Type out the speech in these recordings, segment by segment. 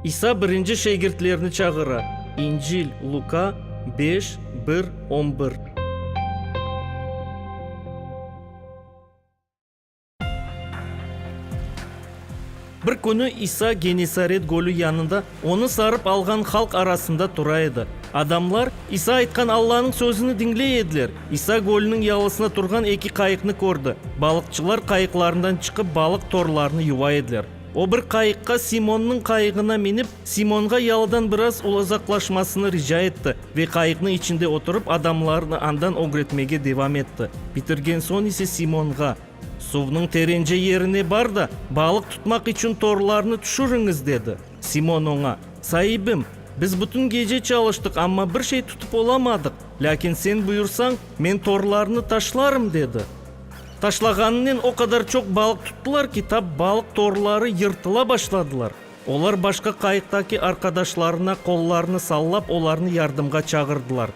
İsa birinci şegirtlerni çağıra. İncil, Luka, beş, bir, on bir. Bir künü İsa Genesaret gölü yanında onı sarıp alğan halq arasında tura edi. Adamlar İsa aytqan Allanıñ sözüni diñley ediler. İsa gölniñ yalısına turğan eki qayıqnı kördi. Balıqçılar qayıqlarından çıqıp balıq torlarını yuva ediler. O bir qayıqqa Simonnıñ qayığına minip, Simonğa yalıdan biraz uzaqlaşmasını rica etti ve qayıqnıñ içinde oturıp adamlarnı andan ögretmege devam etti. Bitirgen soñ ise Simonğa. Suvnıñ terence yerine bar da, balıq tutmaq içün torlarnı tüşüriñiz, dedi. Simon oña, Saibim, biz bütün gece çalıştıq, amma bir şey tutıp olamadıq. Lâkin sen buyursañ, men torlarnı taşlarım, dedi. Taşlağanınen o qadar çoq balıq tuttılar ki, tap balıq torları yırtıla başladılar. Olar başqa qayıqtaki arqadaşlarına qollarını sallap, olarnı yardımğa çağırdılar.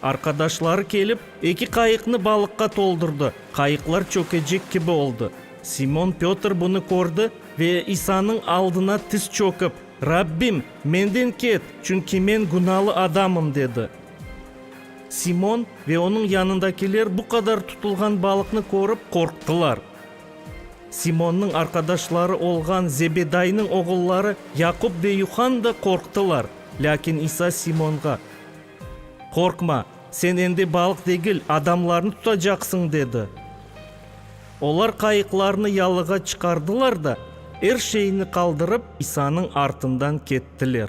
Arqadaşları kelip, eki qayıqnı balıqqa toldurdı, qayıqlar çökecek kibi oldı. Simon Pötr bunı kördi ve İsanıñ aldına tiz çökip, Rabbim, menden ket, çünki men günalı adamım, dedi. Simon ve onıñ yanındakiler bu qadar tutulğan balıqnı körip, qorqtılar. Simonnıñ arqadaşları olğan Zebedaynıñ oğulları Yaqup ve Yuhann da qorqtılar. Lâkin İsa Simonğa, Qorqma, sen endi balıq degil, adamlarnı tutacaqsıñ, dedi. Olar qayıqlarnı yalığa çıqardılar da, er şeyni qaldırıp, İsanıñ artından kettiler.